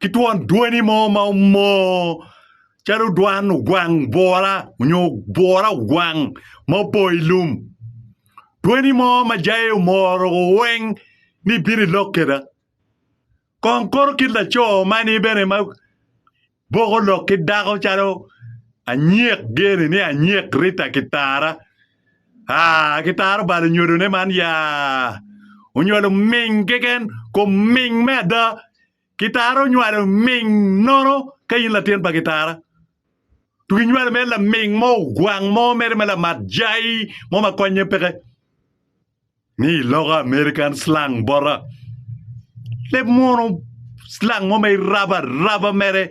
ki twon dwoni mo ma omoo calo dwan ogwang bwura nyo bwura ogwang ma opong i lum dwoni mo ma jaye omoro weng ni ibino ilok keda kong koto kit laco mani bene ma boko lok ki dako calo anyek geni ni anyek Rita ki Tara Aa, gitaro balo nyodone man ya. Onywalo ming keken, kom ming me ada. Gitara onywalo ming nono ka in latin pa gitara. Tu ginywalo mere laming mo ogwang mo mere ma lamat jai mo ma konye peke. Ni i lok American Slang bota, leb munu slang mo ma irabo araba mere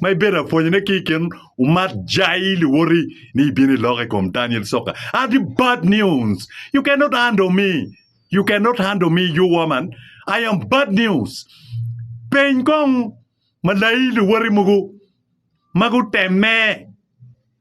ma ibedo ka pwonyone ki i kin umat jai luwoti ni ibino iloko i kom Daniel Soka. Adi bad news. You cannot handle me. You cannot handle me, you woman. I am bad news. Peny kong malai luwoti mogo ma gutemme.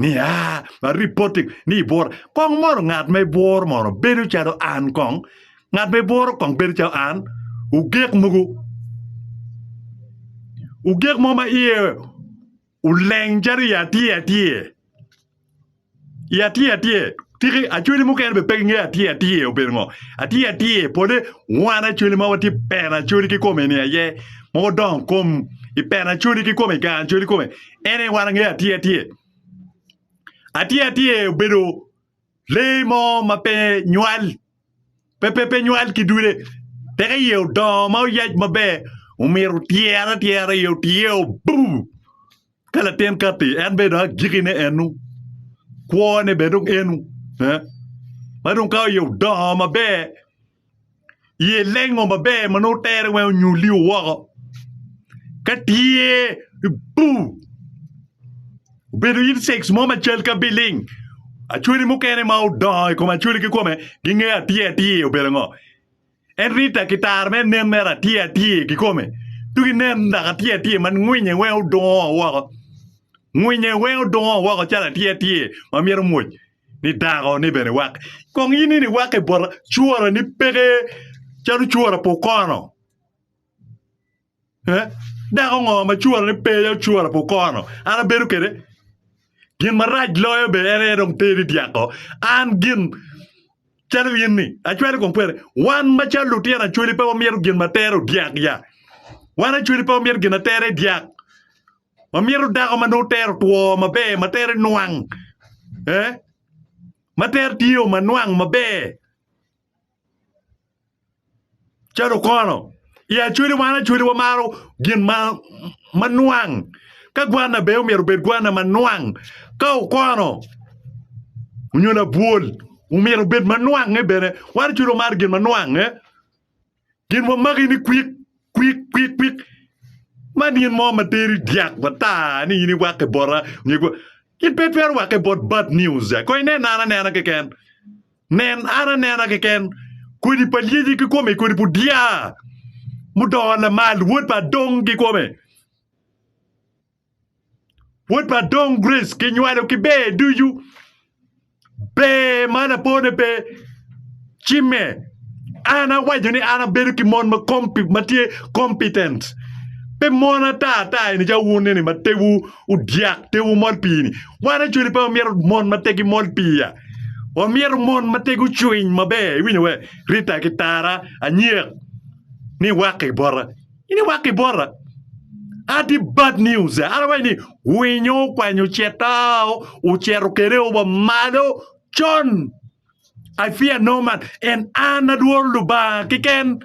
ni ah ma reporting ni ibwora kong mono ngat ma ibworo mono bedo calo an kong ngat ma ibworo kong bedo calo an ogek mogo ogek mo ma iye oleng calo i atye atye i atye atye Tiki acweli mukene be pe gingeyo atir atir obedo ngo. Atir atir pole wan acweli ma watye peno acweli ki kome ni aye ma wadongo kom i peno acweli ki kome i gang acweli kome ene wan angeyo atir atir. Atir atir obedo lee mo ma pe nywal pe pe pe nywal ki dude teka iye odongo ma oyac maber omito tyere atyera iye otye obub. Ka latin katti, en bene dong agikine enu, kwone bene dong enu. Eh? Ma dong ka oye odongo maber, iye lengo maber ma nongo tere weng onyuli woko. Ka tye ibu, obedo insects mo macal ka biling, acwali mukene ma odongo i kom acwali kikome, gingeyo atir atir obedo ngo. En rita ki taro me nen mere atir atir kikome tuk inen dok atir atir ma ngwinye weng odungo woko ngwinye weng odungo woko calo atir atir ma myero omwoc ni dako ni bene wak kong in ni wak ibota cura ni peke calo cura pa okono. Dako ngo ma cura ne pe aye cura pe okono an abedo kwede gin marac loyo bene en aye dong teri dyako an gin calo in ni acwali kong kwede wan macalo lutino acwali pe wamito gin ma tero dyak ya wan acwali pe wamito gin ma tero dyak wamito dako ma nongo tero two maber ma tero nwang ma tero tye o ma nwang maber. Calo okono, i Acholi wan Acholi wamaro gin ma nwang. Ka gwanna ber myero obed gwanna ma nwang. Ka okono nyo labwol myero obed ma nwangnge bene. Wan Acholi wamaro gin ma nwangnge. Gin wamaki ni kwik kwik kwik kwik. Man in mo ma teri dyak mata ni in iwakke bota, in pe itwero wakke bot bad news. Kong inenna anena keken. Nen, an anena keken kodi pa lyeci kikome i kodi pu dya mudongo lamal, wod pa Adong kikome, wod pa Adong Grace kinywalo ki ber ducu, ber ma lapone pe cimme. An awaco ni an abedo ki mon ma tye competent, pe mon ata ata eni ca wun eni ma tewu Odyak te wumol pii-ni. Wan actually pe wamyero mon ma tegi mol piya. Wamyero mon ma tegi ocwiny maber. Iwinyo we? Rita ki Tara, Anyek, ni wak i bota. Ini wak i bota. Adi bad news. Ara wai ni winyo okwanyo cetao, ocero kere oba malo con. I fear no man. And an adworo Lubanga kiken.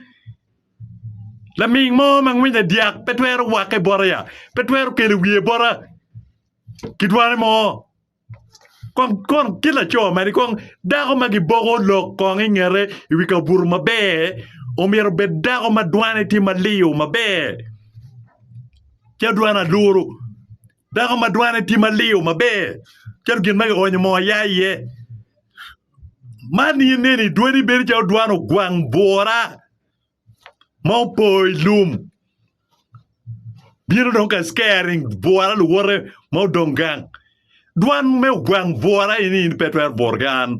Laming mo ma ngwinye dyak pe twero wakke bota ya? Pe twero kelo wiye bota ki dwane mo? Kong kon kit laco mani kong dako ma giboko lok kong i ngete i wi kabuto maber omyero obed dako ma dwane tye maliyo maber ca dwan aluru. Dako ma dwane tye maliw maber calo gin ma kionyo moo aya iye. Man in neni dwani bedo calo dwan ogwang bwora ma opo i lum bino dong ka scaring bwora luwote ma odong gang. Dwan me ogwang bwora eni in pe itwero buto ki an.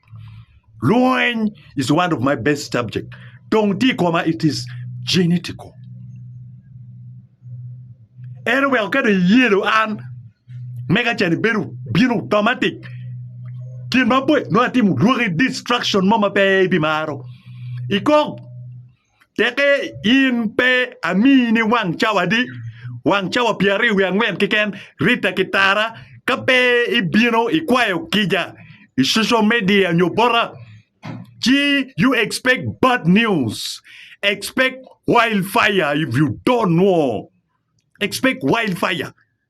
Lweny is one of my best subject. Tong tye i koma it is genetical. En oweko ka dong iyelo an mega can ibedo bino automatic. Gin maboco nongo atimo lwaki destruction mo ma pe ibimaro. Ikok Teke in pe amiyi ni wang cawa adi? Wang cawa pyeraryo wiye angwen keken? Rita ki tara ka pe ibino ikwayo kica i social media nyo bota ci you expect bad news, expect wild fire if you don't know, expect wild fire.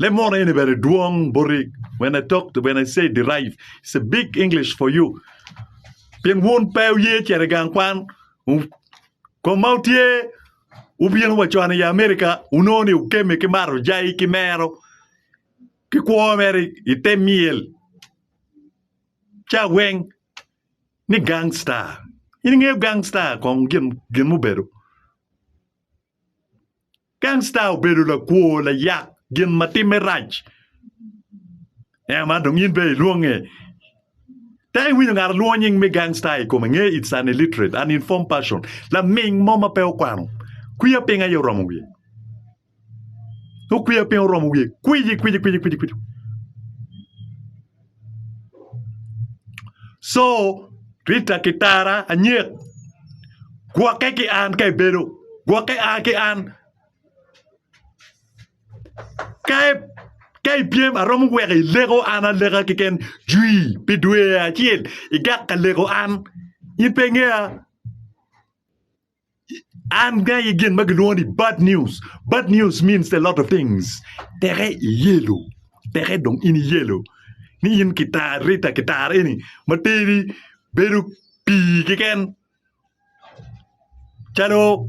Leb mot eni bene dwong boti when I talk to when I say derive it's a big English for you pien wun pe wuye cito i gang kwan kom ma wutye wubino wa con i America wunongo ni wukemme ki mato jayi ki mero ki kwo mere i te myel caweng ni gang star in ingeyo gang star kong gin mubedo. Gangsta obedo lakwo, layak, gin ma timme rac. Ema dong in bene ilwonge. Te iwinyo ngat lwongo nying me gangsta i kome nge it's an illiterate, uninformed person. Laming mo ma pe okwano. Kwiya piny aye oromo wiye. Okwiya piny oromo wiye. Kwici kwici kwici kwici kwici. Co Rita ki tara anyek gwokke ki an ka ibedo gwokke ki an ka ipyem aromo weko ileko an aleka keken jwi pi dwe acel igak ka leko an in pe ingeya. An gangi gin ma gilwongo ni bad news. Bad news means a lot of things. Teke iyelo. Teke dong in iyelo. Ni in kitar Rita kitar eni ma teri bedo pii keken calo